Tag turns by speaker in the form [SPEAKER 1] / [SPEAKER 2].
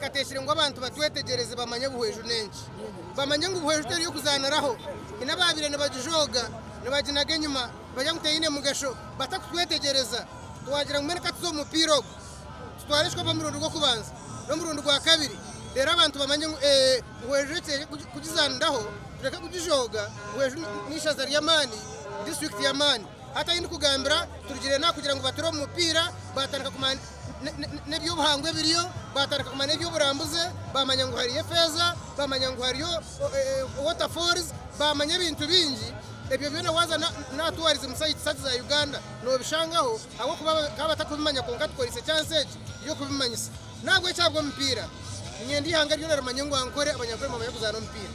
[SPEAKER 1] Kateekyere ngu abantu batwetegyereze bamanye buhweju n'enki. Bamanye ngu buhweju teri y'okuzaaniraho. Haine abaabaire nibagijooga, nibaginaga enyima, nibagira ngu teine mugasho, batakutwetegyereza. Waagira ngu mbwenu ka tuze omu mupiira ogu. Kutwarishwa omurundi gw'okubanza n'omurundi gwa kabiri reero abantu bamanye ngu eeh, ngu enju egi eri kugizaaniraho, tureke kugijooga ngu enju n'eishaza ry'amaani, disiturikiti y'amaani. Hati ahi ndikugambira turugire n'aha kugira ngu bature omu mupiira, baatandika kumanya n'eby'obuhangwa ebiriyo, baatandika kumanya eby'oburambuzi, baamanya ngu hariyo efeeza, baamanya ngu hariyo water falls, baamanya ebintu bingi. Ebyo byona waaza n'aha tourism sites za Uganda noobishangaho. Ahabw'okuba bakaba batakubimanya kwonka tukoreise ekyansi egi y'okubimanyisa. N'ahabw'ekyo ahabw'omupiira, niinyenda eihanga ryona rimanye ngu Ankore abanyakwembu bamanye kuzaana omupiira.